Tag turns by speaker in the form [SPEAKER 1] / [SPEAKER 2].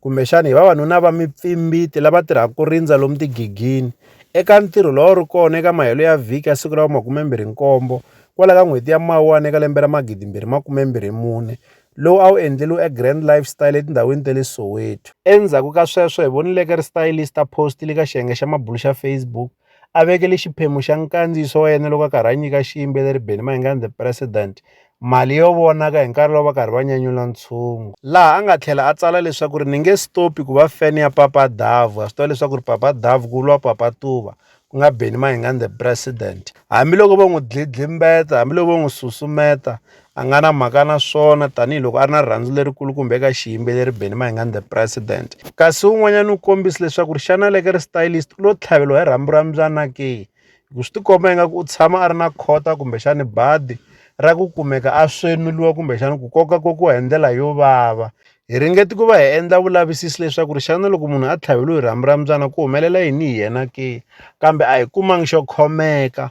[SPEAKER 1] kumbexana hi vavanuna va mipfimbiti lava tirhaka ku rindza lomu tigigini eka ntirho lowu wu ri kona eka mahelo ya vhiki ya siku ra makumembirhi nkombo kwala ka n'hweti ya mawuwani eka lembe ra magidimbirhi makumembirhi mune lowu a wu endleriwe egrand lifestyle etindhawini ta le soweto endzhaku ka sweswo hi vonileke ri stylista post le ka xiyenge xa mabulu xa facebook a vekele xiphemu xa nkandziyiso wa yena loko a karhi a nyika xiyimbeleri Benny Mayengani the President mali yo vonaka hi nkarhi lowu va karhi va nyanyula ntshungu laha a nga tlhela a tsala leswaku ri ni nge stopi ku va fan ya papa davu a swi tiva leswaku ri papa davu ku vuriwa papa tuva ku nga Benny Mayengani the President hambiloko vo n'wi dlidlimbeta hambiloko vo n'wi susumeta a nga na mhaka na swona tanihiloko a ri na rirhandzu lerikulu kumbe eka xiyimbeleri Benny Mayengani the president kasi un'wanyana u kombise leswaku ri xana leke ri stylist u lo tlhaveliwa hi rhambu ra mbyana ke ku swi tikomba ingaku u tshama a ri na khota kumbexani badi ra ku kumeka a swemiliwa kumbexani ku koka kokiwa hi ndlela yo vava hi ringeti ku va hi endla vulavisisi leswaku ri xana loko munhu a tlhaveliwe hi rhambu ra mbyana ku humelela yini hi yena ke kambe a hi kumangi xo khomeka